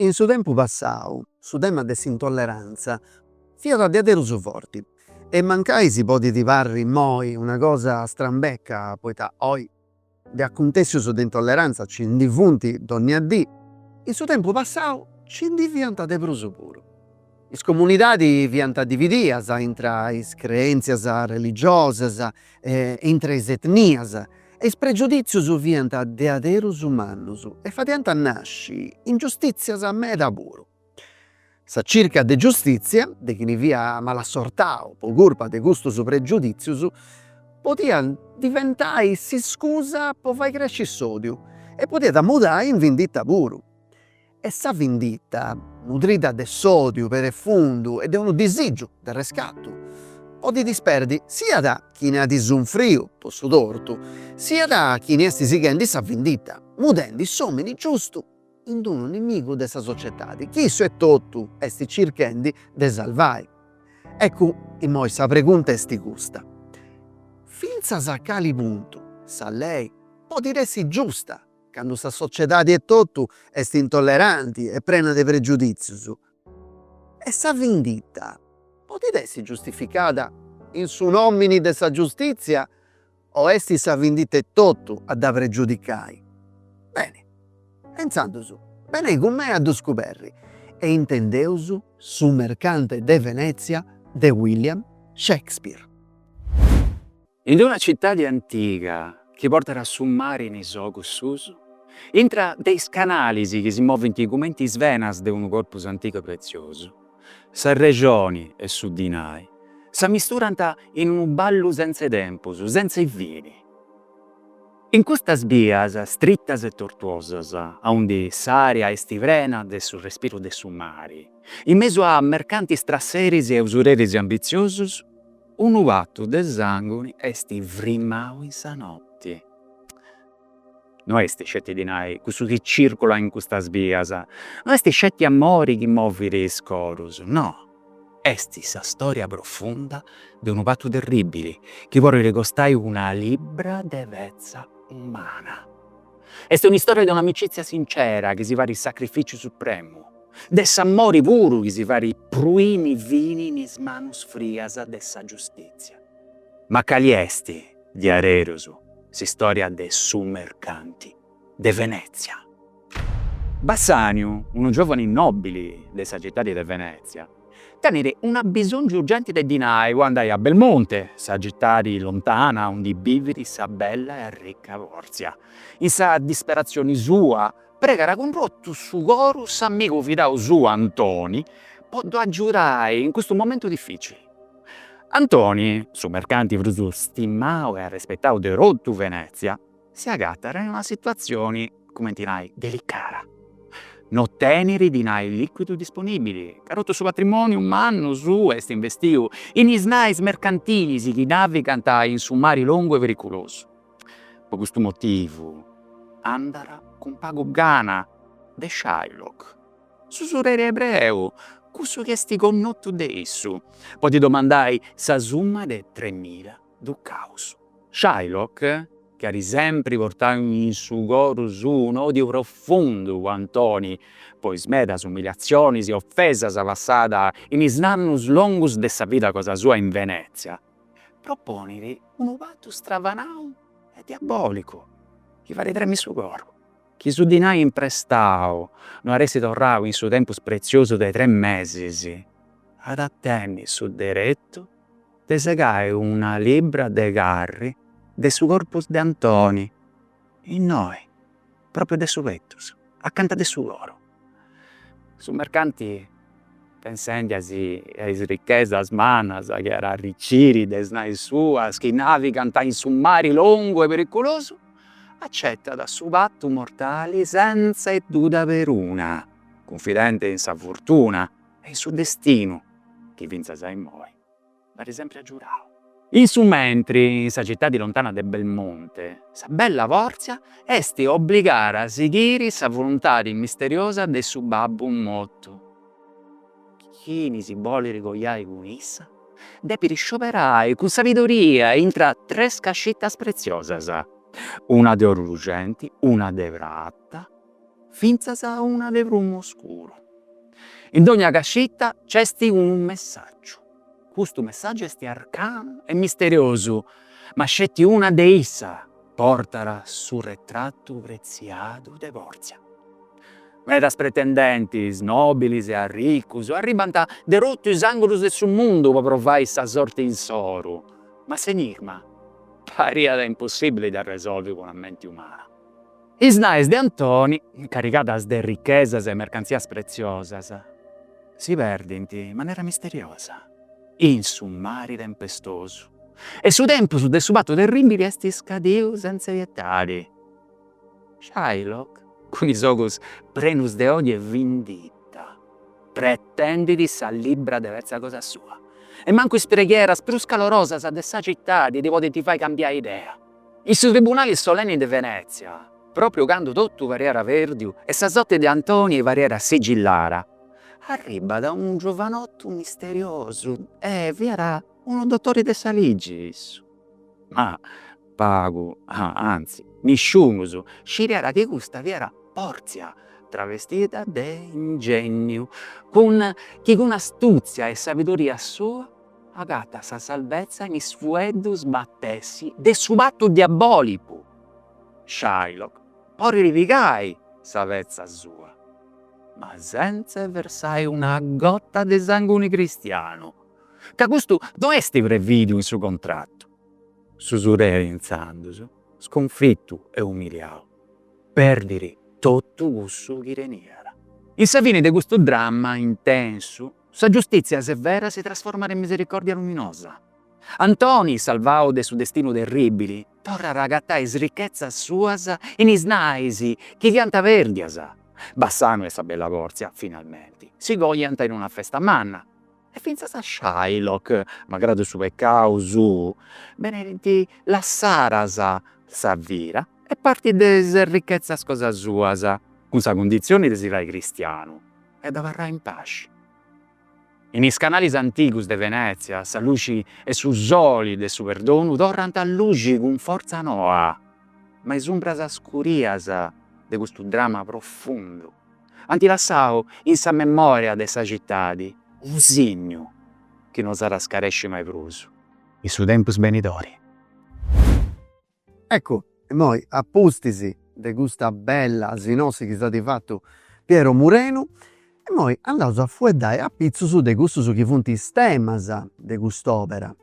In su tempus passau su tema de s'intollerantza fiat a diaderus su forti e mancai si podit parri immoi una cosa strambeca poita oi De acuntèssius de intolleranza ci ndi funt dònnia dì. In su tempus passau ci ndi fiant de prus puru. Is comunidadis fiant dividias intra is creèntzias religiosas e intra is etnias e is pregiudìtzius fiant diaderus mannus e fadiant nasci ingiustìtzias meda puru. Sa circa de giustìtzia de chini fiat malassortau po curpa de custus pregiudìtzius podiat diventai s'iscusa po fai cresci s'òdiu e podiat mudai in vindita puru. E sa vindita, nudrida de s'òdiu perefundu e de unu disìgiu de arrescatu, podit isperdi siat chini at sunfriu po su tortu siat chini est sighendi sa vindita, mudendi s'òmini giustu in unu nimigu de sa societadi chi issu etotu esti circhendi de salvai. Ecu imoi sa pregunta esti custa, fintzas a cali puntu sa lei podit essi giusta candu sa sociedadi etotu esti intolleranti e prena de pregiuditzius? E sa vinditta podit essi giustificada in su nomini de sa giustitzia O est sa vindita etotu a dda pregiudicai? Beni, insandus, benei cun mei a ddu scuberri. E intendeus Su mercante de Venezia de William Shakespeare. In d-una citadi antiga chi portat a su mari in is ogus suus, intra de is canalis chi si movint cumenti is venas de unu corpus antigu e pretziosu, Sa rexoni e su dinai s'ammisturant in unu ballu sentz'e tempus, sentz'e fini. In custas bias stritas e tortuosas, aundi s'ària est prena de su respiru de su mari, in mesu a mercantis trasseris e usureris ambitziosus, unu patu de sànguni est frimau in sa noti. no est sceti dinai cussu chi circulat in custas bias, no est sceti amori chi movit is corus, no, est sa storia profunda de unu patu terribili chi podit costai una libra de petza umana. Est una istoria de una amicizia sincera chi si fait sacrificiu supremu, de s'amori puru chi si fait pruini fini in is manus frias de sa giustitzia. Ma cali est Diareros, s'istòria de su mercanti de Venètzia. Bassaniu, unu giòvane nòbili de sa citadi de Venètzia, tenit unu bisòngiu urgenti de dinai po andai a Belmonte, sa citadi lontana undi bivit sa bella e arricca Pòrzia. In sa disperatzioni sua, pregat cun totu su coru s'amigu fidau suu Antoni po ddu agiudai in custu momentu dificili. Antoni, su mercanti prus stimau e arrespetau de totu Venètzia, si agatat in una situatzioni, cumenti nai, delicada. No tenit dinai lìcuidu disponìbili, ca totu su patrimòniu mannu suu est investiu in is nais mercantilis chi navigant in su mari longu e periculusu. Po custu motivu andat cun pagu gana de Shylock. S'usureri ebreu, cussu chi est connotu de issu, po ddi domandai sa summa de tres mila ducaus. Shylock, chi at sempri portau in su coru suu un'òdiu profundu po Antoni, po is medas umiliatzionis e ofesas passada in is annus longus de sa vida cosa sua in Venètzia, proponit unu patu stravanau e diabòlicu chi fait tremi su coru. Chi su dinai imprestau no at a essi torrau in su tempus pretziosu de tres mesis, at a tenni su deretu de segai una libra de carri de su corpus de Antoni, innoi, propriu de su petus, acanta de su coru. Su mercanti pensendi·si a is ricchesas mannas chi at a arriciri de is nais suas chi navigant in su mari longu e periculosu, acettat su patu mortali sentza e duda peruna, cunfidenti in sa furtuna e in su destinu chi fintzas a immoi. Dd'at sempri agiudau. In su mentri, in sa citadi lontana de Belmonte, sa bella Pòrzia est obligada a sighiri sa voluntadi misteriosa de su babbu mortu. Chini si bolit coiai cun issa, depit scioberai cun sabidoria intra tres cascitas preziosas, una de oru luxenti, una de prata fintzas una de prumu oscuru. In dogna cascita nc'est unu messàgiu. Custu messàgiu est arcanu e misteriosu, ma sceti una de issas portat su retratu pretziadu de Pòrtzia. Medas pretendentes, nòbiles e arricos, arribant de totu is àngulus de su mundu po provai sa sorti insoru, ma s'enigma pariat impossìbile de arresolvi cun sa menti umana. Is nais de Antoni, carrigadas de richesas e mercantzias pretziosas, si perdint in manera misteriosa in su mari tempestosu e su tempus de su patu terribili est iscadiu sentza pietadi. Shylock, cun is ogus prenus de òdiu e vindita, pretendit sa libra de petza cosa sua e mancu is preghieras prus calorosas de sa citadi ddi podint fai cambiai idea. In su tribunali solenni de Venezia, propriu candu totu pariat perdiu e sa sorti de Antoni pariat sigillada, arribat unu giovanottu misteriosu e fiat unu dottori de sa ligi issu. Ma pagu, anzi, nisciunus sciriat chi custa fiat Porzia travestida de ingénniu, cun chi cun astuzia e sabidoria sua Agatat sa salvezza in is fueddus matessi de su patu diabolicu. Shylock porit pigai sa petza sua, ma sentz'e versai una gota de sanguni cristianu, ca custu no esti previdiu in su contrattu. S'usureri intzandus, sconfittu e umiliau, perdiri tottu cussu chi teniat. In sa fini de custu dramma intensu Sa giustìtzia severa si trasformat in misericòrdia luminosa. Antoni, salvau de su destinu terribili, torrat a agatai is richetzas suas in is nais chi fiant pèrdias. Bassanu e sa bella Pòrzia, finalmenti, si coiant in una festa manna e fintzas a Shylock, malgradu su pecau suu, benint lassadas sa vida e parti de is richetzas cosa suas, cun sa cunditzioni de si fai cristianu, e d'abarrai in paxi. In is canalis antigus de Venètzia sa luxi e su soli de su perdonu torrant a luxi cun fortza noa, ma is umbras scurias de custu drama profundu ant lassau in sa memòria de sa citadi unu signu chi no s'at a scaresci mai prus in su tempus benidori. Eccu, immoi, a pustis de custa bella sinossi chi s'at fatu Piero Murenu, immoi andaus a fueddai apitzus de cussus chi funt is temas de cust'òpera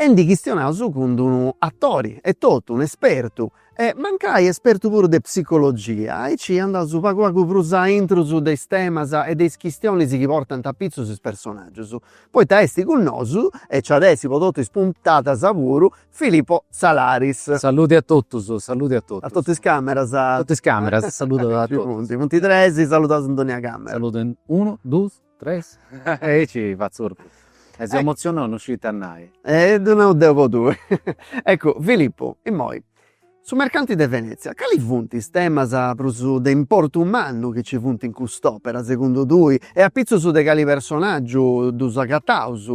e ndi chistionaus cun d'unu atori etotu, un espertu, e mancai espertu puru de psicologia, aici andaus pagu pagu prus a intrus de is temas e de is chistionis chi portant apitzus is personaggius, poita est cun nosu e nci at a essi po totu is puntadas puru Filipo Salaris. Saluti a totus, saluti a totus. A totu is cameras. A totu is cameras, saludos a totus. Ci funt, funt tres, saludaus in dònnia camera. Saludo in unu, dus, tres, aici fatzu ortu. E seu emotzionau, no scit a nai. E ddu nau deu po tui. Eccu, Filipu, immoi, su mercanti de Venezia, cali funt is temas prus de importu mannu chi nci funt in cust'òpera, segundu tui, e apitzus de cali personàgiu ddus agataus?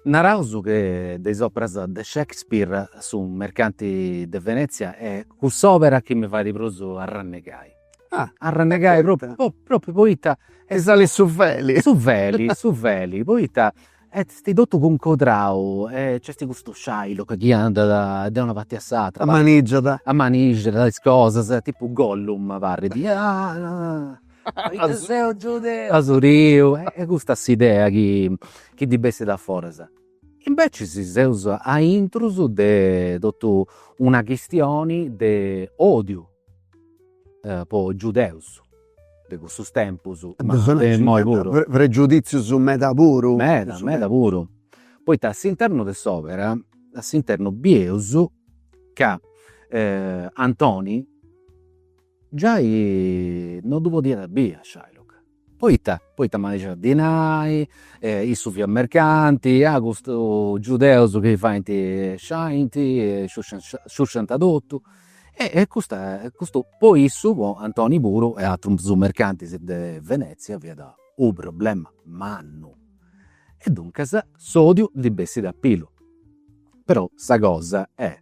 Naraus che de is operas de Shakespeare su Mercanti de Venezia est cuss'òbera chi mi fait prus arrannegai. Ah. Arrannegai propriu propriu poita est. Salit su feli. Su feli, su feli, poita est totu cuncodrau e c'est custu Shylock chi andat de una parti a s'atra. Amanixat. Amanixat is cosas, tipu Gollum parit. Poita seu giudeu. Asuriu, est custa s'idea chi ddi bessit a foras. Imbecis seus a intrus de totu una chistioni de odiu po is giudeus de cussus tempus, ma de imoi puru. Pregiuditzius meda puru. Meda, meda puru. Poita a s'internu de s'òbera, a s'internu bieus ca Antoni Giai no ddu podiat a biri a Shylock, poita poita maixàt dinai, issu fiat mercanti, ah custus giudeus chi faint, sciusciant, sciusciant totu, e custa custu po issu po Antoni puru e atrus mercantis de Venezia fiat u' problema mannu, e duncas s'odiu ndi bessit a pilu, però sa cosa est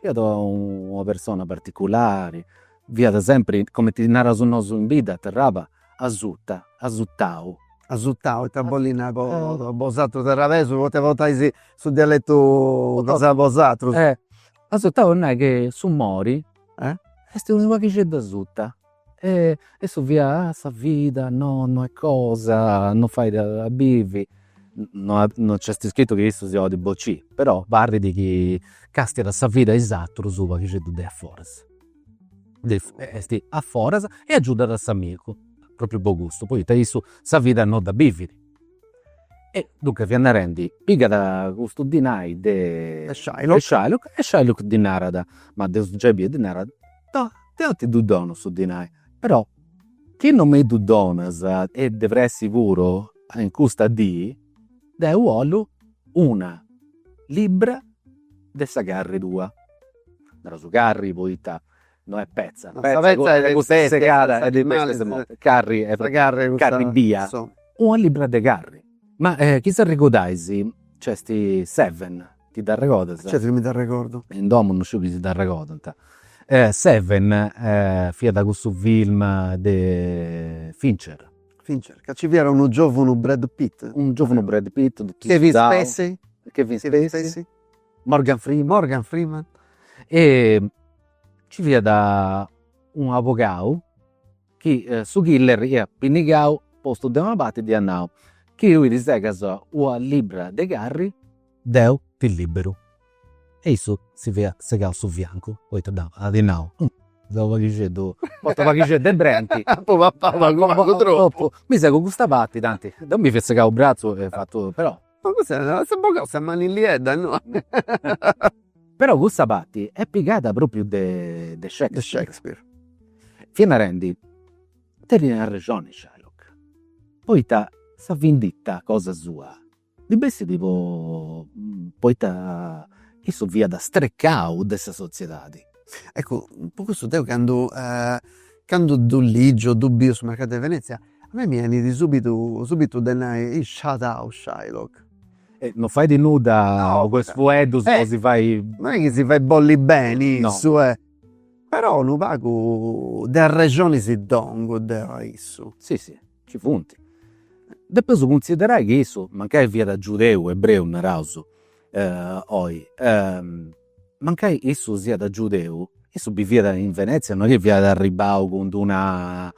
Fiat una persona particulari, fiat sempri, comenti naraus nosu in bidda, a Terraba, asurta, asurtau. Asurtau, ita bollit nai po bosatrus terrabesus, poita portais su dialetu cosa 'e bosatrus. Asurtau est a nai chi s'umori est unu paghixeddu asurtau E issu fiat, ah sa vida no no est cosa, no fait a bivi, no no nc'est iscritu chi issu si 'olit bociri, però parrit chi castiat sa vida 'e is atrus u' paghixeddu de aforas, est aforas e agiudat a s'amigu, propriu po custu, poita issu sa vida no dda bivit. E duncas fiat narendi, pigat custu dinai de Shylock e Shylock ddi narat, ma deu gei biu, ddi narat No, deu ti ddu donu su dinai, però chi non mi ddu donas e de pressi puru in custa dì, deu 'ollu una libbra de sa carri tua. Nareus carri poita no est petza, petza est custa segada e est custa morta, carri est carri bia, una libbra de carri. Ma chi si arregodais nc'est Seven Ti dd'arregodas? Certu chi mi dd'arregordu. In domu no sciu chi si dd'arregodant. Seven fiat cussu film de Fincher. Fincher, ca nci fiat unu giòvunu Brad Pitt. Unu giòvunu Brad Pitt totu sudau. Kevin Spacey. Kevin Spacey. Morgan Freeman. Morgan Freeman. E nci fiat un'abogau chi su killer iat pinnigau postu de una parti dd'iat nau, chi tui ti segas ua libbra de carri, deu ti libberu, e issu si fiat segau su fiancu, poita at nau, humm, deu unu paghixeddu, portu unu paghixeddu de brenti, mi segu custa parti, tanti deu mi fia segau u' bratzu e fatu, però Ma custu no s'at bogau sa manilliedda no. Però custa parti est pigada propriu de de Shakespeare. Fia narendi, tenit arrexoni Shylock, poita sa vinditta cosa sua ndi bessit po poita issu fiat strecau de sa sotziedadi. Eccu po cussu deu candu candu ddu ligiu o ddu biu su mercadu de Venezia A mei mi 'enit subitu subitu de nai iscedau Shylock. Non fait nudda po is fueddus po si fai. Non est chi si fait bolli beni issu eh. Però unu pagu de arrexoni si dda 'ongu deu a issu. Si si, ci funt. Depeus cunsiderai chi issu, mancai fiat giudeu, ebreu naraus oi Mancai issu siat giudeu, issu biviat in Venètzia, no est chi fiat arribau cun d'una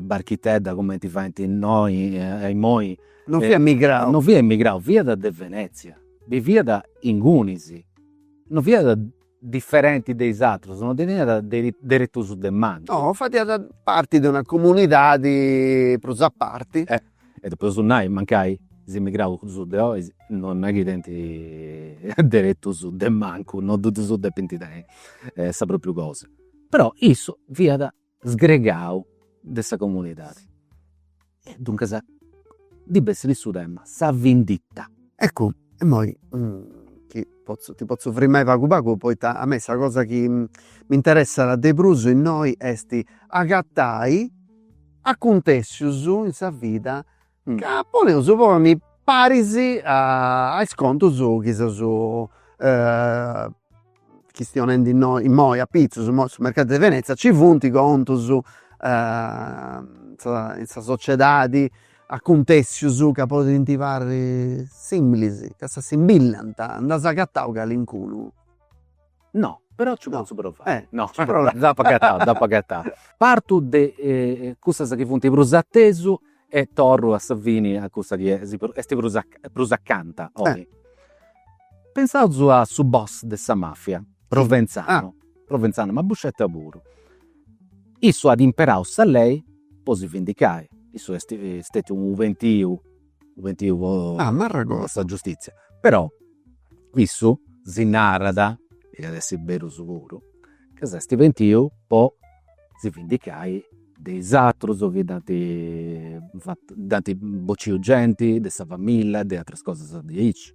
barchitedda cumenti faint innoi, imoi. Non fiat emigrau. Non fiat emigrau, fiat de Venètzia, biviat ingunis, no fiat diferenti de is atrus, no teniat deretus de mancu. No, fadiat parti de una comunidadi prus a parti. E depeus nai, mancai is immigraus de oi non est chi tenint deretus de mancu, non ddu ddus depint tenni sa propriu cosa. Però issu fiat sgregau de sa comunidadi. E duncas ddi bessit in su tema sa vinditta. Eccu, imoi ti potzu ti potzu frimai pagu pagu poita a mei sa cosa chi m'interessat de prus innoi est agatai Acuntèssius in sa vida ca podeus ponni paris a is contus chi seus chistionendi innoi immoi apitzus, immoi su mercadu de Venezia ci funt contus in sa sociedadi, acuntèssius ca podint parri similis, ca s'assimbillant, nd'as agatau calincunu? No, però nci potzu provai. Eh, no. Nci provai. Dd'apu agatada, dd'apu agatada. Partu de cussas chi funt prus a tesu e torru a sa fini a cussa chi est prus a prus acanta a oi. Pensaus a su boss de sa mafia, Provenzano, Provenzano, ma Buscetta puru. Issu at imperau sa lei po si vendicai, issu est stetiu u' pentiu po amori 'e sa giustizia, però issu si narat, e iat essi beru su puru, ca s'est pentiu po si vendicai de is aterus chi dd'ant fatu, dd'ant bociu genti de sa familia, de ateras cosas diaici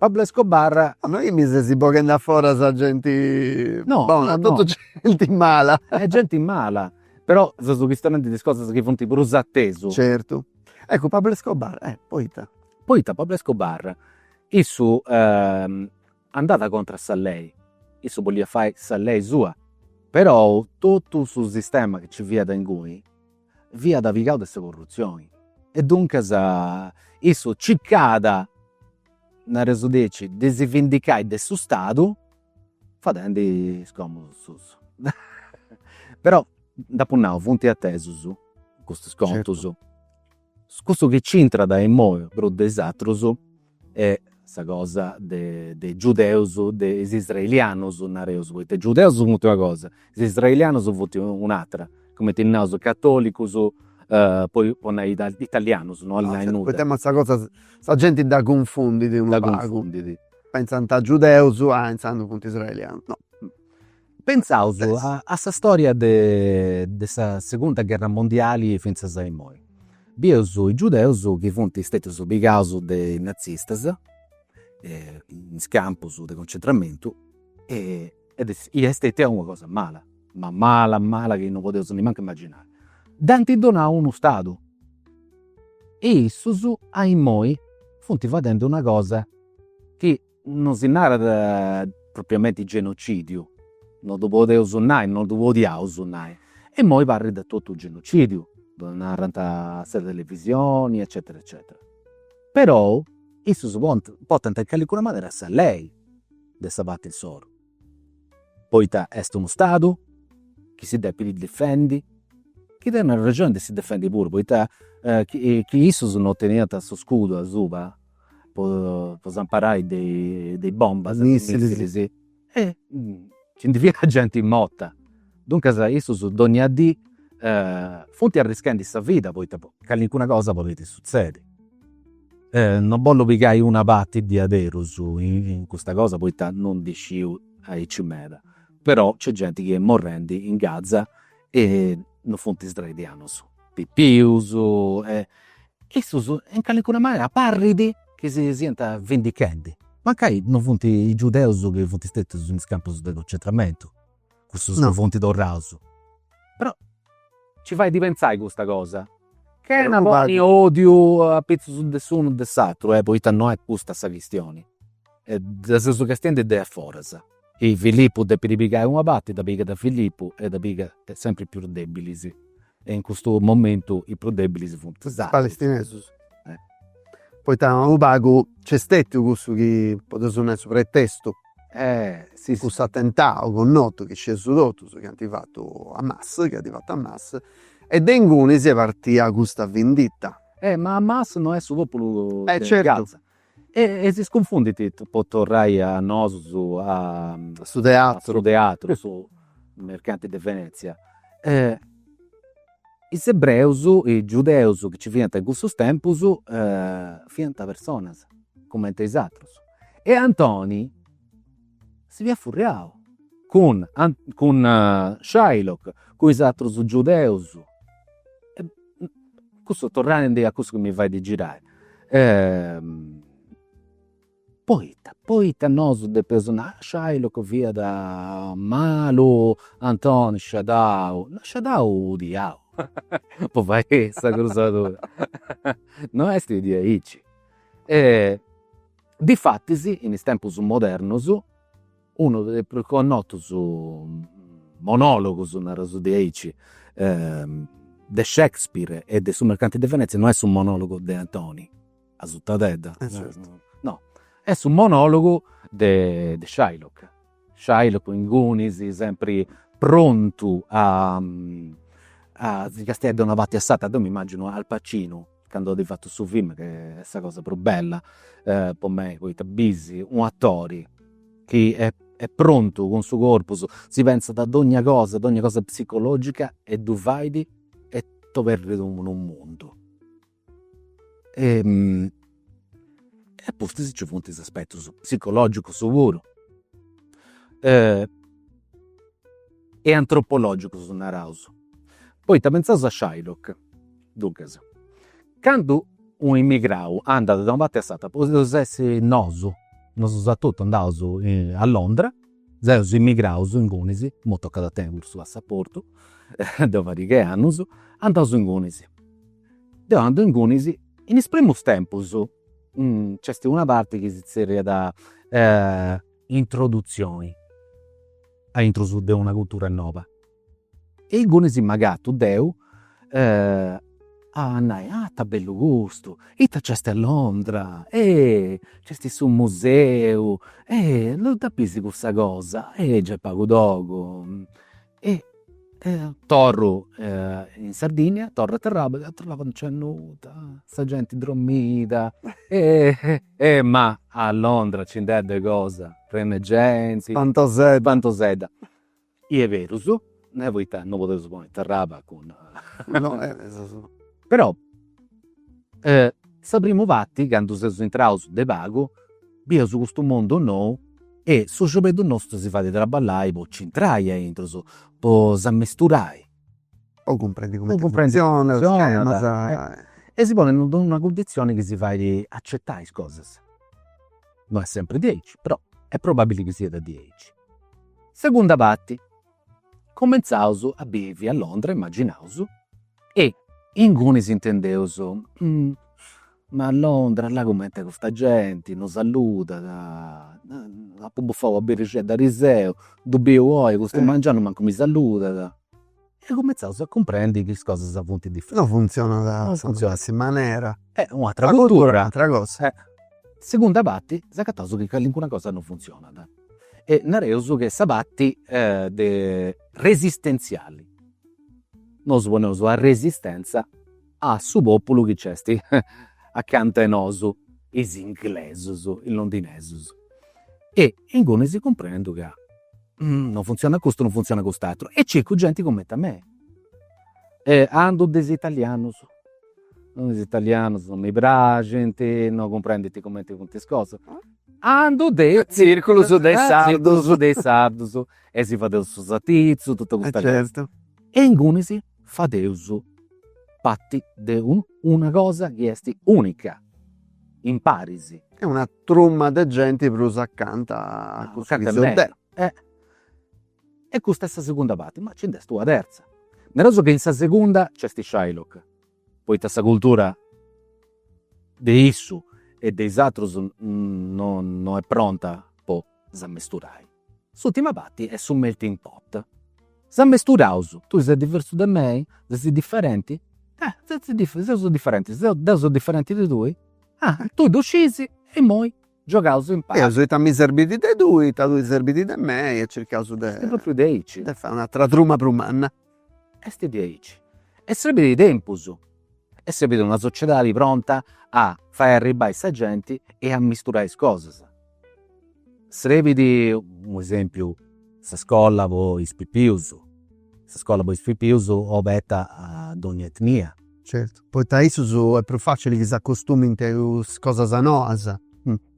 Pablo Escobar. Ma no chi mi ses boghendi a fora sa genti bona, no no totu genti mala. Est genti mala, però seus chistionendi de is cosas chi funt prus a tesu. Certu. Eccu Pablo Escobar, eh, poita. Poita Pablo Escobar, issu andat contra a sa lei, issu bolliat fai sa lei sua, perou totu su sistema chi nci fiat inguni fiat pigau de sa corrutzioni e duncas issu circàt, nareus diaici, de si vendicai de su Stadu fadendi is còmudus suus. Però dd'apu nau, funt atesu custus contus. Cussu chi nc'intrat imoi prus de is aterus est sa cosa de is giudeus de is israelianus nareus, poita is giudeus funt una cosa, is israelianus funt un'atera, cumenti naus catolicus po po nai italianus, no 'olit nai nudda. Poita imoi sa cosa, sa genti dda cunfundit unu pagu, pentzant giudeus, ah intzandus funt israelianus, no Pentzaus a sa storia de sa segunda gherra mondiali fintzas a imoi. Bieus is giudeus chi funt stetius pigaus de is nazistas in is campus de concentramentu e est stetia una cosa mala, ma mala mala chi non podeus nemancu imaginai. Ddis ant donau unu stadu e issus a imoi funt fadendi una cosa chi Non si narat propriamenti genocidiu, non ddu podeus nai, non ddu podiaus nai, e imoi parrit totu u' genocidiu, ddu narant in sa televisioni eccetera eccetera. Perou issus podint portant in callincuna manera sa lei de sa parti insoru, poita est unu Stadu chi si depit difendi, chi tenit arrexoni de si defendi puru, poita chi chi issus non teniant su scudu asuba po s'amparai de is bombas, de is missilis, e nci ndi fiat genti morta. Duncas issus donnia dì funt arrischendi sa vida poita callincuna cosa podet sutzedi. Non bollu pigai una parti diaderus in custa cosa poita non ndi sciu aici meda, però nc'est genti chi est morrendi in Gaza e non funt is israelianus pipius e issus in calincuna manera parit chi si siant vindichendi. Mancai non funt is giudeus chi funt stetius in is campus de concentramentu, cussus chi funt torraus, però nci fait pentzai custa cosa, chena ponni odiu apitzus de s'unu o de s'aturu, poita non est custa sa chistioni, dda seus castiendi de aforas E Filippu depit pigai una parti, dda, pigat Filippu e dda pigat sempri is prus debilis. E in custu momentu is prus debilis funt is palestinesus. Poita unu pagu nc'est stetiu cussu chi podeus nai su pretestu, cussu atentau connotu chi scieus totus chi ant fatu Hamas, chi at fatu Hamas, e de inguni est partia custa vendita. Ma Hamas no est su populu de Gaza. E si cunfundint, po torrai a nosus, a su teatru, su mercanti de Venezia, is ebreus, is giudeus chi nci fiant in cussus tempus fiant personas cumenti a is atrus e Antoni si fiat furriau cun cun Shylock, cun is atrus giudeus, cussu torrendi a cussu chi mi fait girai, poita, poita nosu depeus nai, Shylock fiat malu, Antoni sciadau, no sciadau 'u diau po fai sa crusadura, no est diaici. Difatis, in is tempus modernus, unu de is prus connotus monologus, nareus diaici, de Shakespeare e de su Mercante de Venezia no est su monologu de Antoni a sa tradedda, no, est su monologu de Shylock Shylock ingunis, sempri prontu a a si castiai de una parti a s'atera, deu mi immagino Al Pacino candu at fatu su film chi est sa cosa prus bella po mei, poita bis un'atori chi est prontu cun su corpus, si pentzat a dogna cosa, dogna cosa psicologica e ddu fait e t'oberit unu mundu e a pustis nci funt is aspetus psicologicus puru e antropologicus naraus, poita pentzaus a Shylock, duncas, candu u' immigrau andat de una parti a s'atera, podeus essi nosu, nosu seus totu andaus a Londra, seus immigraus ingunis, imui tocat a tenni puru su passaportu, de una pariga 'e annus, andaus ingunis Deu andu ingunis. In is primus tempus nc'est una parti chi si zerriat introduzioni a intrus de una cultura noba e ingunis m'agatu deu a nai, ah ita bellu custu, ita nc'est a Londra, eh nc'est su museu, eh là dda bisi cussa cosa, eh gei est pagu togu E torru in Sardinnia, torru a Terraba, a Terraba non nc'est nudda, sa genti dromida e ma a Londra nci nd'est de cosa, prena 'e genti. Spantosedda. Spantosedda. Gei est berus, poita non podeus ponni Terraba cun. No, però E sa primu parti, candu seus intraus de pagu, bieus custu mundu nou e su sciobeddu nostru si fait traballai po nci intrai aintrusu, po s'ammisturai. Po cumprendi cumenti funtzionat, schemas. E si ponit in d'una cunditzioni chi si fait acetai is cosas. No est sempri diaici, però est probabili chi siat diaici. Segunda parti Commentzaus a bivi a Londra immaginaus e inguni s'intendeus, ma a Londra là cumenti est custa genti, no saludat, apu bufau una birrixedda ariseu, ddu biu oi custu mangianu mancu mi saludat, e cummentzaus a cumprendi chi is cosas funt diferenti. Non funtzionat a sa matessi manera. Est u' atera cultura. S'agatat u' atera cosa. Segunda parti, s'agataus chi calincuna cosa non funtzionat e nareus ch'est sa parti de resistenziali, nosu poneus una resistenza a su populu chi nc'est acanta 'e nosu, is inglesus, is londinesus. E inguni deu cumprendu ca non funtzionat custu non funtzionat cust'aturu e circu genti cumenti a mei. E andu de is italianus, is italianus non mi praxint, non cumprendint cumenti funt is cosas Andu a is tzirculus de sardus de sardus e si fadeus su satitzu totu custa cosa e inguni si fadeus parti de unu una cosa chi esti unica imparis. Est una truma de genti prus acanta a cussu chi seu deu. E custa est sa segunda parti, ma nci nd'est una terza, nareus chi in sa segunda nc'est Shylock poita sa cultura de issu e de is atrus no est pronta po s'ammesturai. S'ultima parti est su melting pot. S'ammesturaus. Tui ses diversu de mei? Ses differenti? Seus differentis. Deu seu differenti de tui? Ah, tui ddu scis e immoi giogaus impari. Bieus ita mi serbit de tui, ita ti serbit de mei e circaus de. Est propriu de aici. De fai un'atra truma prus manna. Est diaici. Est srebidu tempus e srebit una sociedadi pronta a fai arribbai sa genti e a misturai is cosas. Srebit, po esempiu, sa scolla po is pipius, sa scola po is pipius oberta a donnia etnia. Certu, poita a issus est prus facili chi s'acostumint a is cosas noas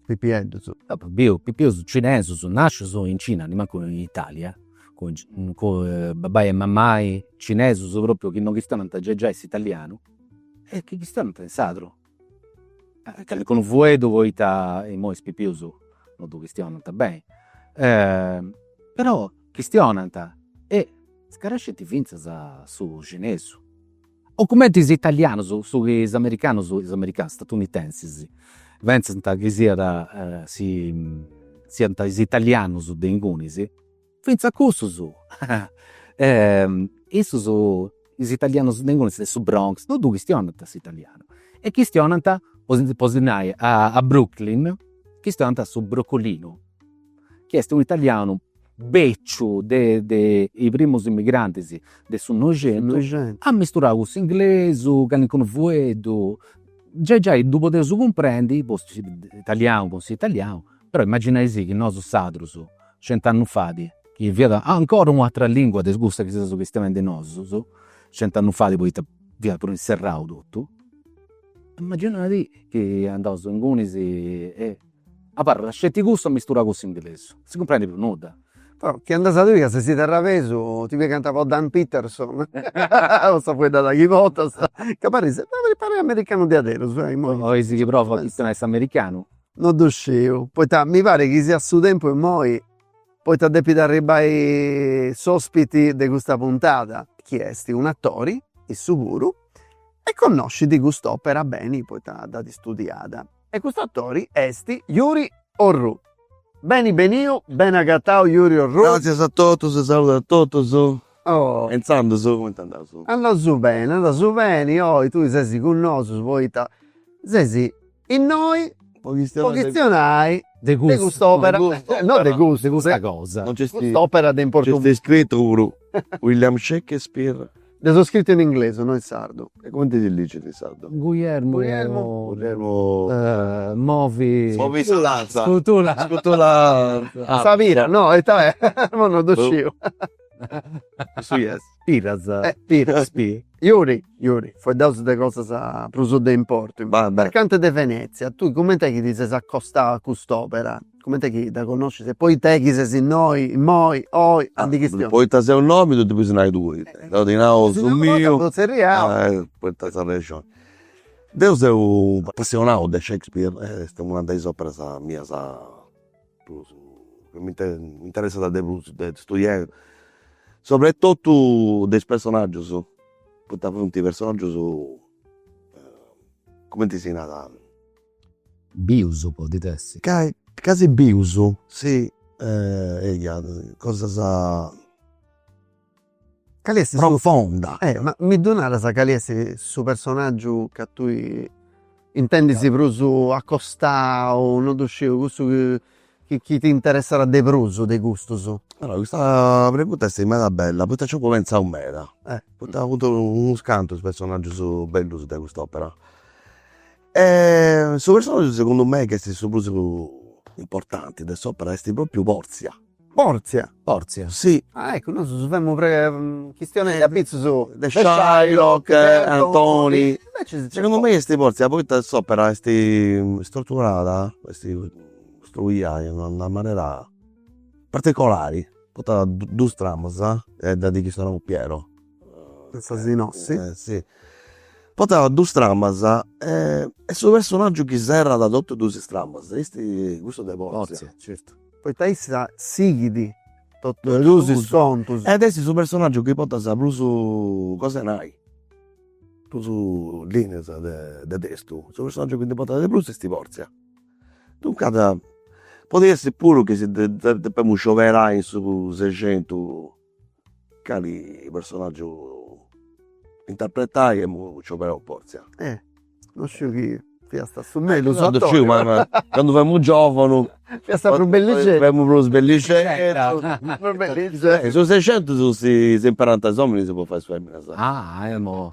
pipieddus. Deu apu biu pipius cinesus nascius in Cina, nimancu in Italia, cun babbai e mammai cinesus propriu chi no chistionant giai giai s'italianu e chi chistionant in sardu. Calincunu fueddu poita imoi is pipius no ddu chistionant beni. Però chistionant e scarescint fintzas su cinesu o cumenti is italianus, su chi is americanus, is americanus, statunitensis, pentzant chi siat si siant is italianus de ingunis, fintzas cussus, issus, is italianus de ingunis de su Bronx no ddu chistionant s'italianu e chistionant, po si nai, a Brooklyn chistionant su brocolinu, chi est u' italianu beciu de de is primus immigrantis de su Noixentu amisturau cun s'inglesu, calincunu fueddu, giai giai ddu podeus cumprendi po s'italianu, però imaginai-sì chi nosu su sardu de cent'annus fait chi fiat ancora u' atera lingua de cussa chi seus chistionendi nosus, cent'annus fait poita fiat prus inserrau totu, imaginai chi andaus ingunis e Abarrat sceti custu amisturau cun s'inglesu, si cumprendi prus nudda. Però chi andas a ddui ca ses terrabesu ti pigant po Dan Peterson po sa fueddada chi portas ca paris paris americanu diaderus. Bolis chi provu a chistionai s'americanu. No ddu sciu, poita mi parit chi siat su tempus immoi poita depit arribbai s'ospiti de custa puntada chi est un'atori, issu puru, e connoscit cust'opera beni poita dd'at studiada. E custu atori est Yuri Orru. Beni beniu, beni agatau Yuri Orru. Gràtzias a totus, saludu a totus. E intzandus cumenti andaus? Andaus beni, andaus beni, oi tui ses cun nosu poita ses innoi po chistionai de cust'opera, no de custu, de custa cosa, de cust'opera de importu. Nc'est scritu puru William Shakespeare. Dda as iscrita in inglesu no in sardu. E cumenti si narat in sardu? Guglielmu. Guglielmu. Movi. Movi sa lanza. Scutula. Scutula. Sa pira no ita è? Imui no ddu sciu. Cussu chi est? Piras. Eh piras. Pi. Yuri. Yuri. Fueddausu de cosas prus de importu. Mercante de Venezia tui cumenti est chi ti ses acostau a cust'opera? Cumenti est chi dda connoscis e poita est chi ses innoi, immoi, oi, a ndi chistionai. Poita seu innoi ddu depius nai tui. Deu ti nau su miu. Poita sa rexoni. Deu seu apassionau de Shakespeare e est una de is operas mias prus, chi mi interessat de prus de studiai, sobretotu de is personaggius, poita funt personaggius, cumenti si narat Bius podit essi. Ca ca si bius si eia cosas chi est profonda. Ma mi ddu naras cali est su personaggiu chi tui intendis prus acostau, non ddu sciu, cussu chi chi t'interessat de prus de custus. Allora custa pregunta est meda bella poita nci apu pentzau meda, poita funt unus cantus is personaggius bellus de cust'opera E su personaggiu segundu mei ch'est su prus importanti de s'opera est propriu Porzia. Porzia? Porzia. Si. Ah eccu, nosu femus chistionendi apitzus de Shylock, Antoni. Segundu mei est Porzia poita s'opera est struturada, est costruia in una manera particolari, poita dus tramas, e dda chistionamus Piero Portat dus tramas e est su personaggiu chi serrat totus dus is tramas est custu de Porzia. Poita issa sighit totus dus is contus. Ed est su personaggiu chi portat prus cos'e nai, prus lineas de testu, su personaggiu chi ndi portat de prus est Porzia. Duncas podit essi puru chi si depemus scioberai in su sexentu Cali personaggiu interpretai emu scioberau deu a Portzia. Eh non sciu chi fiast a su mellus o a domus. Non sciu ma candu femu giovunu. Fiast prus bellixeddu. Femu prus bellixeddu. Prus bellixeddu. Su sescientus si imperant is ominis po fai is feminas. Ah emo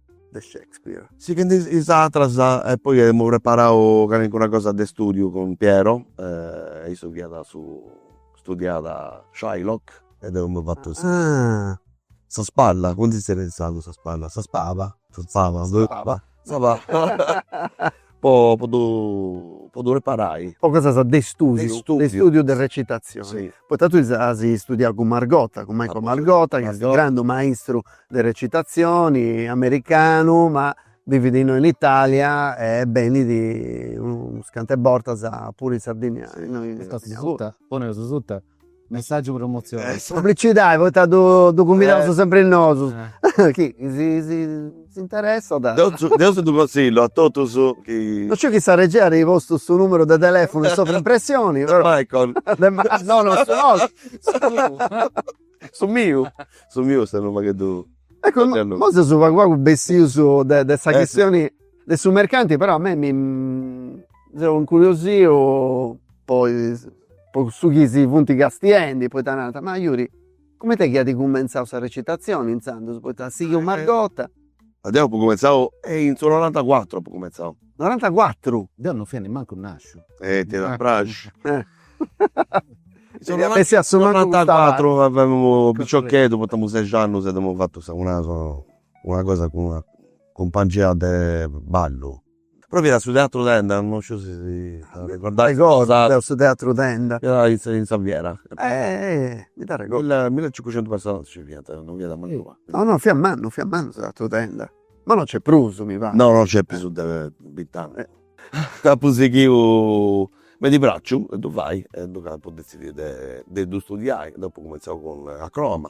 de Shakespeare. Sighendi is atras e poi aemu preparau calincuna cosa de studiu cun Piero e issu fiat su studiàt a Shylock e deu emu fatu sa sa spalla, cumenti si zerriat in sardu sa spalla, sa spava, sa spava, sa spava po po ddu po ddu preparai. Po cosas de studiu. De studiu. De studiu de recitazioni. Si. Poita tui as studiau cun Margotta, cun Michael Margotta, chi est unu grandu maistru de recitazioni, americanu, ma bivit innoi in Italia e benit unus cant'e bortas puru in Sardigna, innoi in Sardigna puru. Poneus suta Messaggiu promozione. Publicidade poita ddu cumbidaus sempri nosu. Chi si interessat. Deu ddu conzillu a totus chi. No sciu chi sa regia at postu su numeru de telefunu in sovrimpressioni però. De Michael. No no su nostru. Su tuu. Su miu. Su miu est unu pagheddu. Eccu nosu seus pagu pagu bessius de sa chistioni. De su mercanti però a mei mi seu incuriosiu po is po cussu chi si funt castiendi poita narant ma Yuri cumenti est chi at cumentzau sa recitazioni inzandus poita sighit Margotta. Deu apu cumentzau in su norantacuatru apu cumentzau. Norantacuatru? Deu non fia nemancu nasciu. E t'iat a praxi. Deviat essi a su mancu custa pari. In su norantacuatru, piciocheddu, poita emu seixi annus e dd'emu fatu sa una cosa cun una cumpangia de ballu. Poi fiat su teatru tenda, non sciu si si t'arregordas. Arregodu su teatru tenda. Fiat in sa fiera. Mi nd'arregodu. Milli millecincucentus personas nci fiant, non fiat mancu pagu. No no fiat mannu, fiat mannu su teatru tenda. Ma non nc'est prus mi parit. No no nc'est prus de bint'annus. Apu sighiu m'est praxiu a ddu fai e duncas apu detzidiu de ddu studiai, dd'apu cumenzau cun Akroama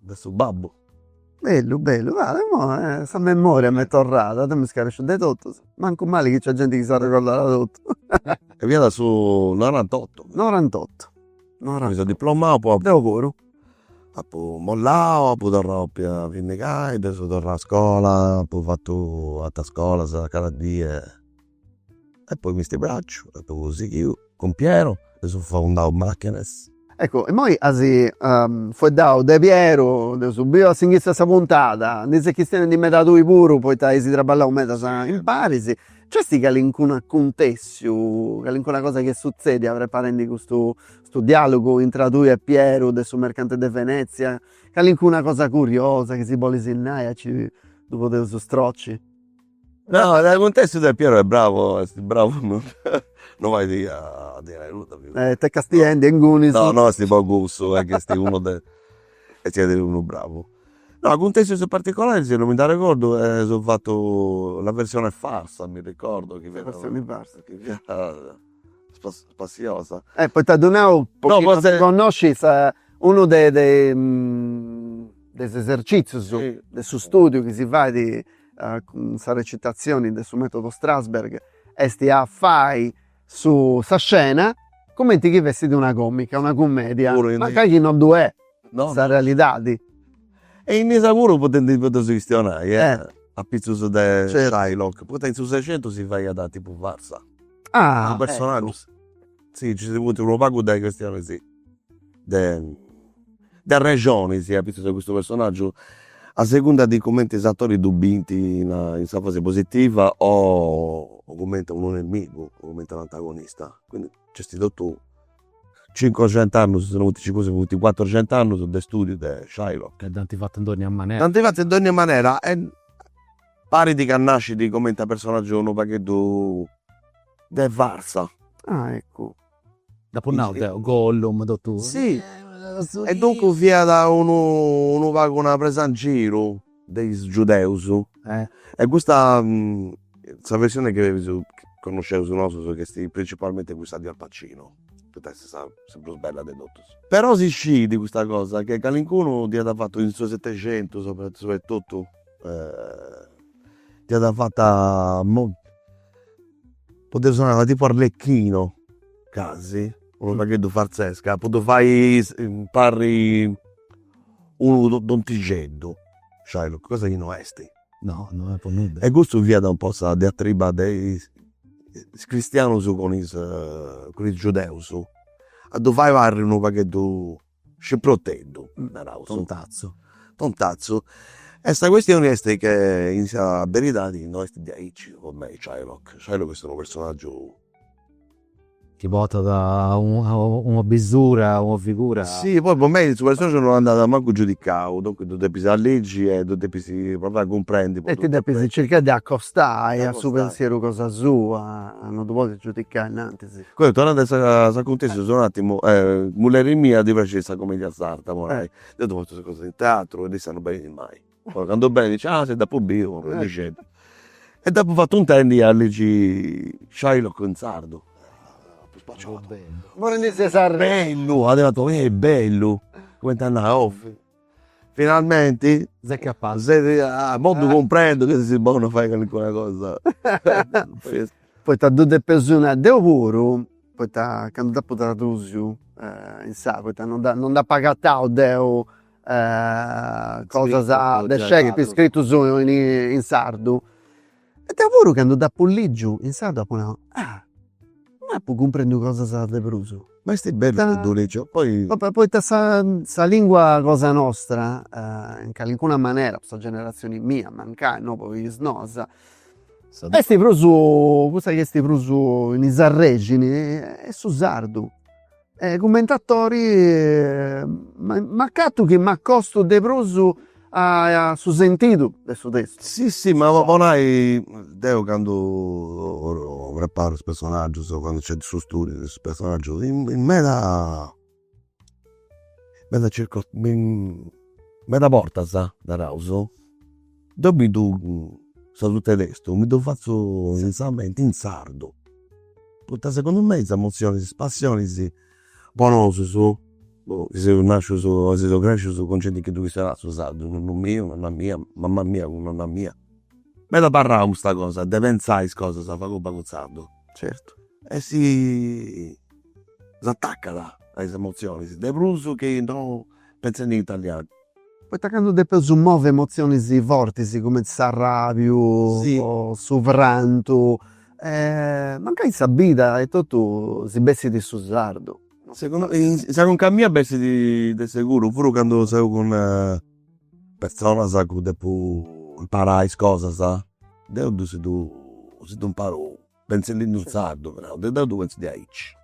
de su babbu. Bellu bellu imoi sa memoria m'est torrada, deu mi scaresciu de totu, mancu mali chi nc'est genti chi s'arregordat de totu. E fiat su norantottu. Norantottu. Mi seu diplomau po. Deu puru. Apu mollau, apu torrau a pia finnigai, deu seu torrau a scola, apu fatu ateras scolas academia E poi m'est praxiu e apu sighiu cun Piero e eus fundau Machenes. Eccu, immoi as fueddau de Piero, dd'eus biu a s'inghitzu 'e sa puntada, ndi ses chistionendi meda tui puru poita eis traballau meda impari, nc'est calincunu acuntessiu, calincuna cosa chi est sutzedia preparendi custu custu dialogu intra tui e Piero de su mercante de Venezia, calincuna cosa curiosa chi si bolis nai aici ddu podeus stroci. No de acuntessius de Piero est bravu est bravu no no fait a ddi nai nudda figu. E t'est castiendi inguni su. No no est po cussu est ch'est unu de e siat unu bravu. No acuntessius particolaris no mi nd'arregordu eus fatu la versione farsa mi ricordo chi fiat. Sa versioni farsa. Chi fiat spassiosa. E poita ddu nau po chi no ddu connoscit est unu de de de is esercitzius de su studiu chi si fait Sa recitazioni de su metodo Strasberg esti a fai sa scena cumenti chi fessidi una comica, una cumedia, mancai chi no ddu è sa realidadi. E innoi puru podendi podeus chistionai apitzus de Shylock, poita in su Sexentus si faiat tipu farsa. Ah eccu. Si nci funt unu pagu de chistionis de de arrexonis apitzus de custu personaggiu a segunda de cumenti is atoris ddu bint in in sa fasi positiva o cumenti a unu nemigu o cumenti a un'antagonista. Quindi nc'est totu cincoxent'annus, si no funt cincuxentus funt cuatroxent'annus de studiu de Shylock. E dd'ant fatu in dónnia manera. Dd'ant fatu in dónnia manera e Parit ca nascit comenti a personaggiu unu pagheddu de farsa. Ah eccu. Nd'apo nau deo, Gollum totu. Si, e duncus fiat unu unu pagu una presa in giru de is giudeus. E custa sa versione chi connosceus nosus chi est principalmente cussa de Al Pacino, poita est sa sa prus bella de totus. Però si scit custa cosa, che calincunu dd'iat fatu in su setexentus, su e totu dd'iat fata po ddu sonai tipu arlecchino casi, unu pagheddu farzescu, po ddu fai parri unu tontixeddu, cioè cosa chi no esti. No, no est po nudda. E custu fiat un po' sa diatriba de is cristianus cun is cun is giudeus, a ddu fai parri unu pagheddu Scimproteddu naraus. Tontazzu. Tontazzu. E sa questioni est chi in sa beridadi no est diaici po mei Shylock. Shylock est unu personaggiu. Chi portat una bisura, una figura. Si, poi po mei su personaggiu non andat mancu giudicau, duncas ddu depis ligi e ddu depis provai a cumprendi. E ti depis circai de acostai a su pensieru cosa sua, non ddu podis giudicai innantisi. Comenti, torrendi a s'acuntessiu, solu un attimu, a mulleri mia ddi praxit sa cumedia sarda po nai, deu ddu fatzu cosa in teatru e issa non benit mai, poi candu benit,, ah si dd'apu biu arrendi pagheddu. E dd'apu fatu intendi a ligi Shylock in sardu, apu spaciau, bellu, at nau, eh bellu, cumenti a nai, oh Finalmenti. S'est capazu. Moi ddu cumprendu chi ses bonu a fai calincuna cosa. Poita ddu depu nai deu puru, poita candu dd'apu tradusiu in sa, poita non dda non dd'apu agatau deu cosas de Shakespeare scritus in sardu E deu puru candu dd'apu ligiu in sardu apu nau, ah, ma apu cumprendiu cosas de prus. Ma est bellu chi dd'apu ligiu poi. Poita sa lingua cosa nostra, in calincuna manera, po sa generatzioni mia mancai, no po is noas, est prus, cussa chi est prus in is arrexinis est su sardu. E cumenti atori m'acatu chi m'acostu de prus a su sentidu de su testu. Sì sì ma po nai deu candu preparu is personaggius o candu nc'est su studiu de su personaggiu in meda meda meda bortas, naraus Deu mi ddu, sa suta 'e testu, mi ddu fatzu in sa mente in sardu, poita segundu mei is emozionis, is passionis po nosus, boh, chi seus nascius e seus crescius cun genti chi ddu chistionat su sardu, nonnu miu, nonna mia, mama mia cun nonna mia, m'est abarrau custa cosa de pentzai is cosas a pagu pagu in sardu. Certu. E si s'atacat a is emozionis, de prus chi no pentzendi in italianu Poita candu depeus movi emotzionis fortis cumenti s'arràbiu o su prantu, mancai in sa bida etotu si bessit in su sardu. Sa conca mia bessit de seguru, puru candu seu cun personas a cui depu imparai is cosas, deu ddus si ddu imparu pentzendi-ddu in sardu però, deu ddu pentzu diaici.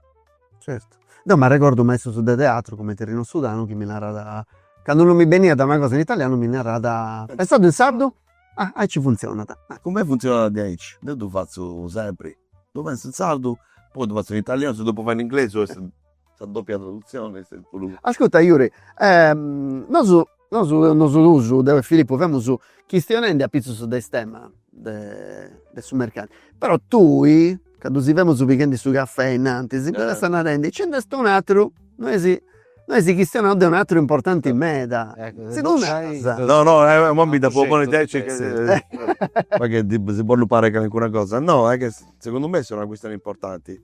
Certu. Deu m'arregordu maistros de teatru cumenti Rino Sudano chi mi narat, candu non mi beniat una cosa in italianu mi narat, pentzaddu in sardu? Ah aici funtzionat. Po mei funtzionat diaici, deu ddu fatzu sempri, ddu pentzu in sardu, poi ddu fatzu in italianu, si ddu depu fai in inglesu est Sa doppia traduzione est puru. Ascurta Yuri, nosu nosu nosu duus, deu e Filippu, femus chistionendi apitzus de is temas de de su mercau. Però tui, candu si femus pighendi su cafè innantis, si ndi ses narendi, nci nd'est un'ateru, no ndi chistionaus de un'ateru importanti meda. Si ddu naras. No no imoi dda fait a ponni tenci ca si podit parri calincuna cosa. No est ca segundu mei est una chistioni importanti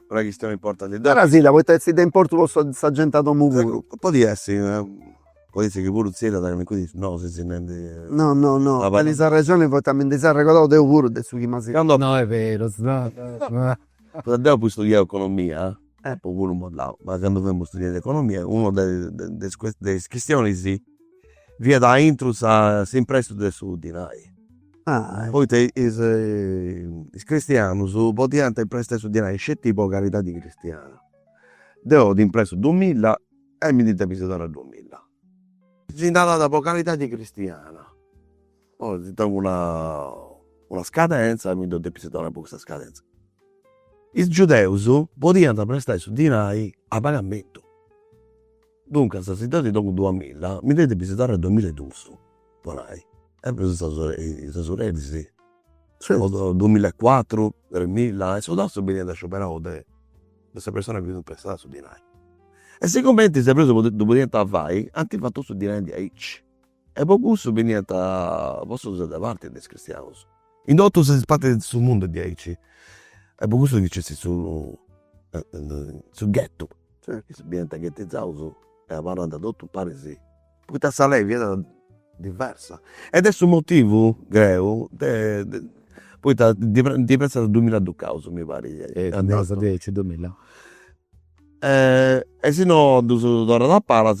una chistione importanti. Naras-sì-dda, poita est de importu po sa genti 'e domu puru. Podit essi, podit essi chi puru Zilda at calincunu issu, no si si nendi. No no no, tenis arrexoni poita mi ndi seu arregordau deu puru de su chi m'as. Candu. No est beru. Poita deu apu studiau economia, apu puru modau, ma candu femus studiendi economia, una de is de is chistionis fiat aintru sa, s'imprestu de su dinai Poita is cristianus podiant imprestai su dinai sceti po caridadi cristiana. Deu ti imprestu duumilla e mi ndi depis donai duumilla. Si nd'at donau po caridadi cristiana, poi si tengu una scadenza mi ddu depis donai po custa scadenza. Is giudeus podiant prestai su dinai a pagamentu Duncas, si deu ti dongu duamilla, mi ndi depis donai duamilla e dus, po nai. E prus is tesoreris, duamilla e cuatru, tremilla e su tassu beniat scioberau de sa persona chi ddu imprestaiat su dinai. E sigumenti is ebreus ddu podiant fai, ant fatu su dinai diaici E po cussu beniant postus de parti de is cristianus. In totu is partis de su mundu diaici. E po cussu chi nc'est su su ghettu, beniant ghettizaus e abarrant totu paris, poita sa lei fiat diversa. Ed est su motivu, creu, de poita ndi pentzu de dumilla ducaus mi pari. Naras diaici dumilla. E si no ddus torrat a palas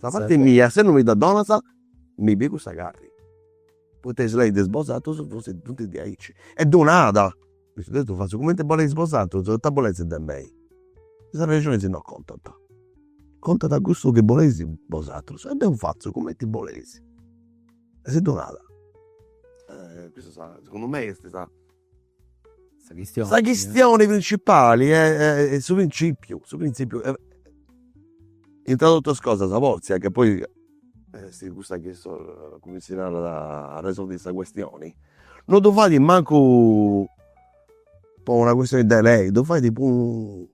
Sa parti mia si no mi dda donas mi pigu sa carri. Poita is leis de is bosatrus funt diaici. E ddu nada, a su testu ddu fatzu cumenti boleis bosatrus, ita boleis de mei. Is arrexonis no contant, contat cussu chi boleis bosatrus e deu fatzu cumenti boleis. E si ddu nada. Custa segundu mei est sa Sa chistione principali est su printzìpiu, su printzìpiu, intra totus is cosas Portzia chi poi est cussa chi sos, cumenti si narat, a resolvi sa questioni, non ddu fait mancu po una questioni de lei, ddu fait po unu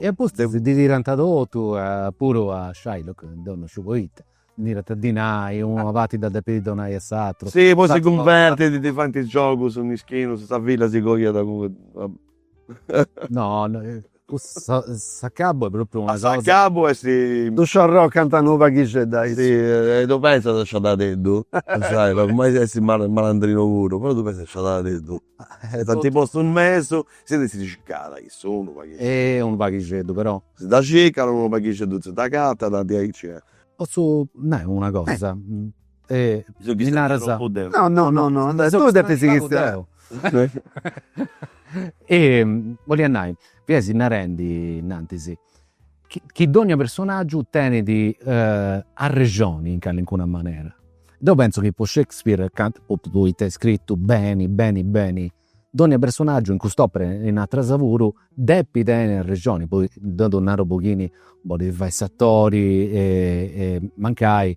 E a pustis ddi tirant totu puru a Shylock deu non sciu poita. Ddi tirant dinai, una parti dda depit donai a s'aturu. Si, po si cunvertit ddi faint is giogus mischinus, sa filla si coiat cun. No, cussa s'acabu est propriu una cosa. S'acabu est. Ddu sciorrocant unu paghixeddu aici. Si, e ddu pentzas sciadadeddu, Shylock, ma est malandrinu puru, però ddu pentzas sciadadeddu. E tanti postus in mesu, si dda circada issu unu paghixeddu. E unu paghixeddu però. Si dda circat, unu paghixeddu si dd'agatat, diaici e. Potzu nai una cosa? E mi naras. No no no no no, tui depis chistionai. E bollia nai, fiais narendi innantis chi dònnia personàgiu tenit arrexoni in calincuna manera. Deu pentzu chi po Shakespeare poita est scritu beni beni beni, dònnia personàgiu in cust'opera e in ateras puru depit tenni arrexoni, poi deu ddu naru po chini bolit fai s'atori e mancai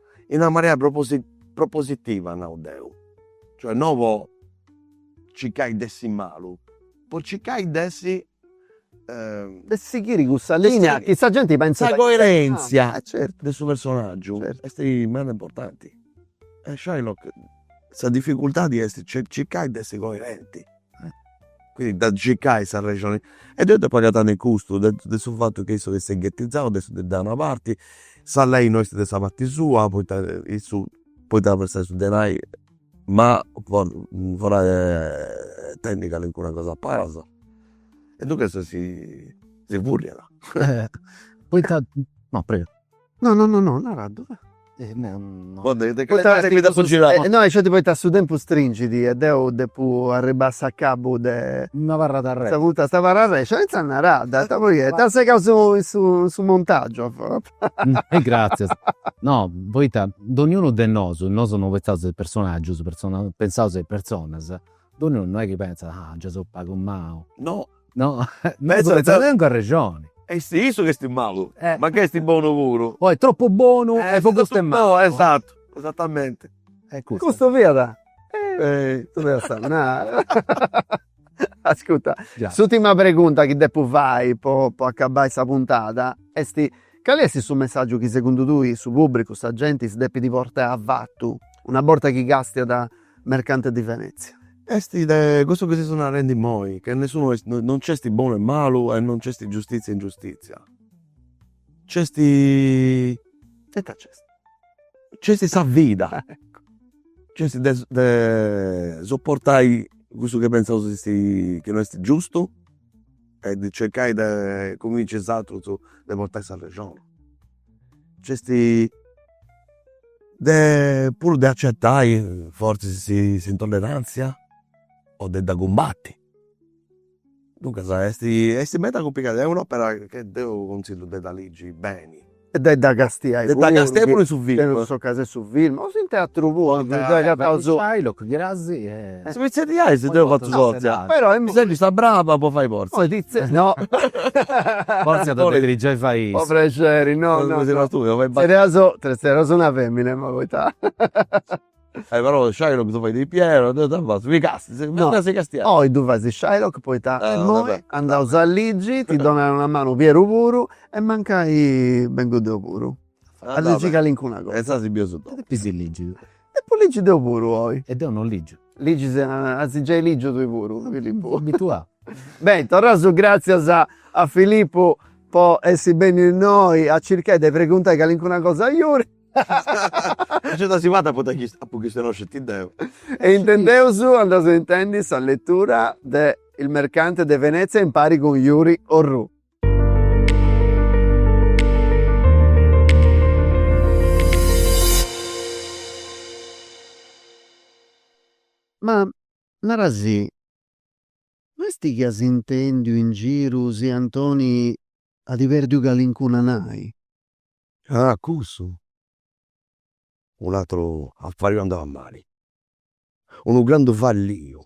in una manera propositiva nau deu, cioè no po circai de essi malu, po circai de essi de sighiri cussa linea chi sa genti pentzat, sa coerenzia de su personaggiu est meda importanti e Shylock sa difficultadi est circai de essi coerenti. Quindi de circai sa arrexoni e deu depu agatai in custu de de su fatu chi issu est ghetizau de issu de a una parti, sa lei no esti de sa parti sua poita issu poita a prestai su denai ma for forai e tenni calincuna cosa a palas e duncas si si furriat. Poita no prego No no no no nara ddu e no po de de. No aici poita su tempus stringit e deu depu arribbai a s'acabu de. Una parra d'arrexo. Sa puntada sa parra arrexo e intzà nara e ita poi est t'apu segau su su su montagiu. E gratzias. No poita donniunu de nosu, nosu no pensaus a is personaggius, pensaus a is personas, donniunu no est chi pentzat ah già seu pagu malu. No No tengu arrexoni. E est issu ch'est malu, mancai est bonu puru. Est tropu bonu e po custu est malu. Esatu, esatamenti. E custu. Custu fiat. Tui dd'as a nai. Ascurta, s'ùrtima pregunta chi depu fai po po acabai sa puntada est, cali est su messàgiu chi segundu tui su pùbricu, sa genti, si depit portai avatu una borta chi càstiat mercante di Venezia. Est de cussu chi seus narendi immoi, che nessunu est, non cesti bonu e malu e non cesti giustizia e ingiustizia. Cesti, e ita cesti? Cesti sa vida, cesti de de soportai cussu chi pentzaus chi esti, chi no esti giustu e de cercai de cunvinci is atrus de portai s'arrexoni Nc'esti de puru de acettai forzis s'intollerantzia o de dda cumbatti. Duncas esti esti meda cumplicau, est un'opera chi deu conzillu de dda ligi beni. E de dda castiai puru. De dda castiai puru in su film. In s'occasioni 'e su film o in teatru puru. Shylock gasi e Si podis zerriai si deu fatzu Portzia. Però mi seghi sa braba po fai Portzia. Poi pizze no. Portzia deu depiri giai fai issa. Po prexeri no no. Si no tui deu fai. Zerriaus zerriaus una femina po poita. E però Shylock ddu fait Pieru, deu ita fatzu, mi castru, mi torru a si castiai. No oi ddu fais Shylock poita immoi andaus a ligi, ti donat una manu Pieru puru e mancai bengu deu puru. Aze si calincuna cosa. E zasi biu su domo. E depis ligi tui. Depu ligi deu puru oi. E deu non ligiu. Ligis, as giai ligiu tui puru Filippu. Abituau. Beni, torraus su gratzias a a Filippu po essi benniu innoi a circai de preguntai calincuna cosa a Yuri. Gei dd'as fata poita chi apu chistionau sceti deu. E intendeus andaus a intendi sa letura de Il mercante de Venezia impari cun Yuri Orrù. Ma narasì, no est chi as intèndiu in giru si Antoni at pèrdiu calincuna nai? Ah, cussu? Un'àteru affari andau a mali. Unu grandu falliu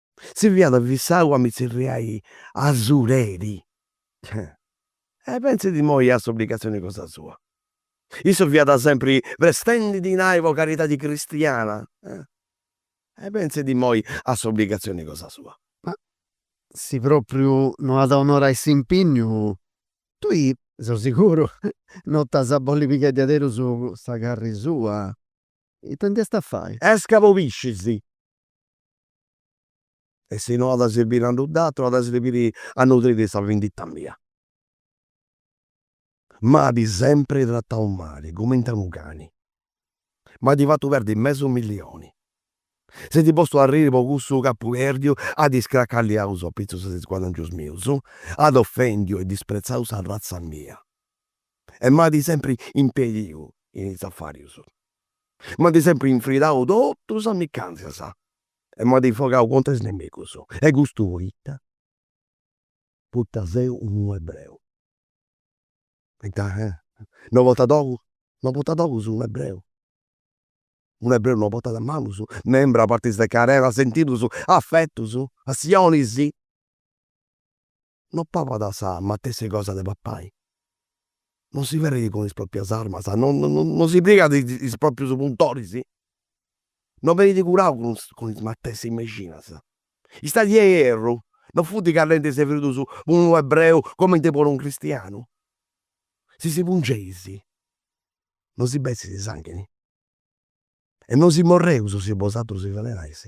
Si fiat fissau a mi tzerriai asureri. E pentzit imoi a s'obligatzioni cosa sua. Issu fiat sempri prestendi dinai po caridadi cristiana. E pentzit imoi a s'obligatzioni cosa sua. Ma si propriu no at a onorai s'impinniu, tui seu siguru no t'as a bolli pigai diaderus sa carri sua. Ita nd'iast a fai? Esca po piscis. E si no at a sirbiri a nudd'àteru, at a sirbiri a nutriri sa vindita mia. M'at sempri tratau mali, cumenti a unu cani. M'at fatu perdi mesu millioni. S'est postu a arriri po cussu chi apu pèrdiu, at iscracalliau a pitzus de is guadangius mius, at ofèndiu e dispretzau sa ratza mia. e m'at sempri impediu in is afàrius. M'at sempri infridau totu is amicàntzias e m'at infogau contra is nemigus. E custu poita? Poita seu unu ebreu. Poita no portat ogus, no portat ogus unu ebreu. Unu ebreu no portat manus, membra, partis de carena, sentidus, afetus, passionis. No papat sa matessi cosa de papai. No si ferrit cun is proprias armas, no no si pigat is proprius puntoris, no benit curau cun cun is matessi mexinas. Istadi e ierru no funt callentis e fridus po unu ebreu comenti po unu cristianu. Si si pungeis no si bessit sanghini e no si morreus si bosàterus si ferenais.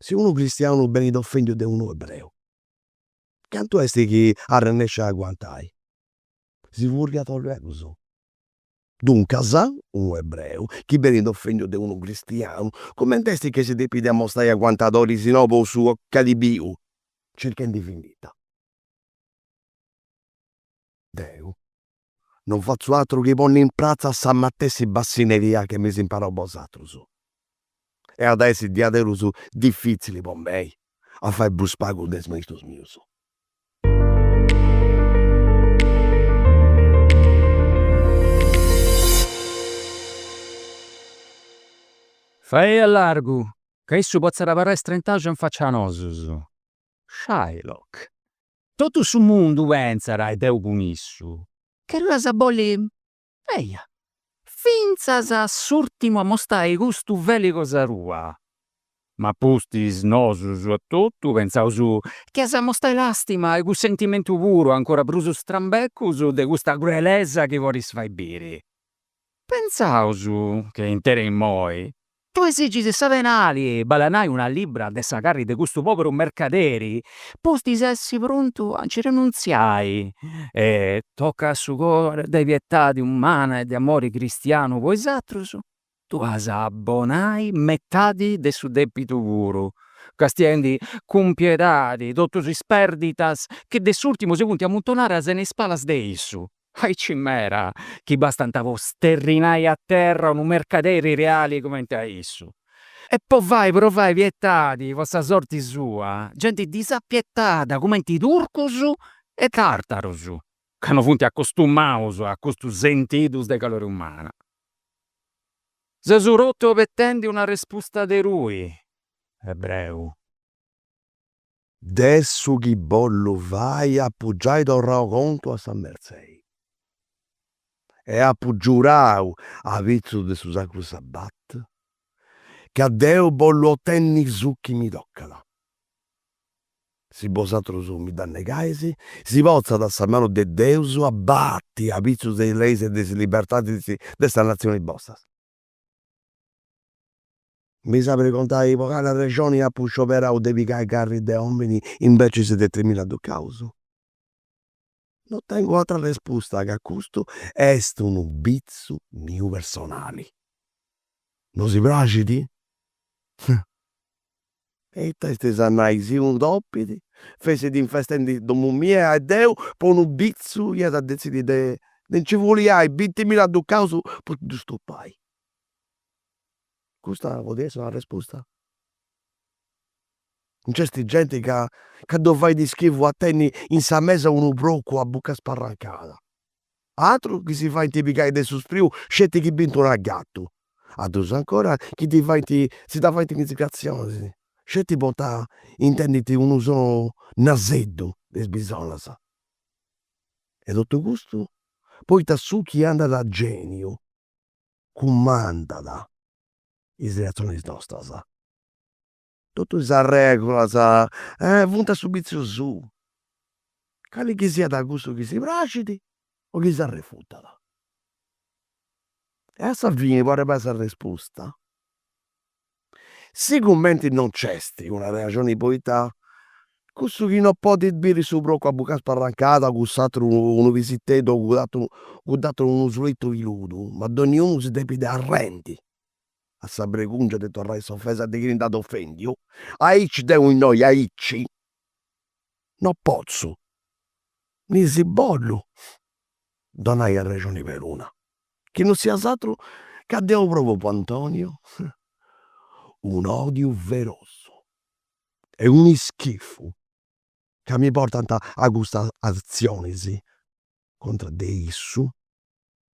Si unu cristianu benit ofendiu de unu ebreu, cantu est chi arrennescit a aguantai? Si furriat luegus. Duncas, unu ebreu chi benit ofendiu de unu cristianu, cumenti est chi si depit amostai aguantadori si no po su chi at biu, circhendi vindita? Deu, non fatzu atru chi ponni in pratza sa matessi bassineria che m'eis imparau bosatrus. E at a essi diaderus diffitzili po mei a fai prus pagu de is maistus mius. Faei a largu, ca issu potzat abarrai istrentaxu in faccia a nosus. Shylock. Totu su mundu pentzat e deu cun issu chi tui as a bolli, eja, fintzas a s'ùrtimu a mostai custu feli cosa tua. Ma pustis nosus a totu pentzaus chi as a mostai làstima e cussentimentu puru, ancora prus strambecus de custa cruelesa chi bolis fai biri. Pensaus chi interis immoi tui esigis sa penali bale a nai una libbra de sa carri de custu poberu mercaderi, pustis essi prontu a nci renuntziai e tocau a su coru de pietadi umana e de amori cristianu po is atrus, tui as a abonai metadi de su depitu puru, castiendi cun piedadi totus is perditas chi de s'urtimu si funti amuntonadas in is palas de issu. Aici meda chi bastant po sterrinai a terra unu mercaderi reali cumenti a issu, e po fai provai pietadi po sa sorti sua a genti disapietada cumenti turcus e tartarus, ca no funt acostumaus a custus sentidus de calori umana. Seus totu abetendi una respusta de tui, ebreu. De su chi bollu fai apu giai torrau contu a sa Mertzei e apu giurau apitzus de su Sacru Sabbat ca deu bollu otenni su chi mi tocat. Si bosatrus mi dda negais, si potzat sa manu de Deus abati apitzus de is leis e de is libertadis de sa natzioni bosta. M'eis a pregontai po cali arrexoni apu scioberau de pigai carri de omini imbecis de trimilla ducaus? No tengu atra respusta ca custu est unu bitzu miu personali. No si praxit? E ita estis a nai, si unu topi fessit infestendi domu mia e deu po unu bitzu ia a detzidi de de nci fuliai bintimilla ducaus po ddu stopai. Custa podit essi una resposta? Nc'est genti ca ddu fait schivu a tenni in sa mesa unu procu a buca sparrancada Atrus chi si faint pigai de su spreu sceti chi bint una gatu, atrus ancora chi ddi faint, si dda faint in is cratzonis sceti poita intendint unu sonu naseddu de is bisonas. E totu custu poita su chi andat a geniu cumandat is reatzionis nostras. Totu is arregulas funt a su vitziu suu, cali chi siat cussu chi si praxit o chi s'arrefutat. E a sa fini po arribai a s'arresposta, sicumenti non nc'est una arrexoni poita cussu chi non podit biri su procu a buca sparrancada cuss'aturu unu pisiteddu o cudd'aturu unu sulitu piludu, ma donniunu si depit arrendi a sa bregungia de torrai s'ofesa de chini nd'at ofendiu, aici deu innoi aici no potzu, ni si bollu donai arrexoni peruna, chi no siat s'atru ca deu provu po Antonio un'odiu ferosu e un'ischifu ca mi portant a custas azionis contra de issu